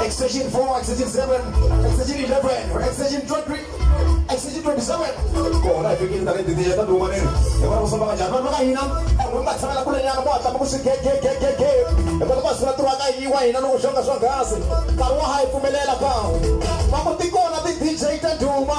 extension 4 extension 7 extension 11 extension 23 extension 27 kona hi fikile tale titiya ta duma nini hi vona kusoma kanjhani vanhu va ka hina en'we va tshamela kule nyana va hatlama ku swi gegegegege hi kota va sula tiwa ka yiwa hina loko xonga swonghasi nkarhi wa ha hi pfumelela ka va ku tikona ti-dj ta duma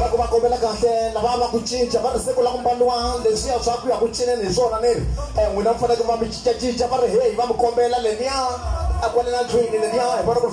loko va kombela kahle lava va ku cinca va ri siku la ku mbaliwa leswiya swa ku ya ku cineni hi swona ni ri um n'wina mi faneke va mi cincacinca va ri heyi va mi kombela leniya a kwale na ndlwini leniya hi vona ku ri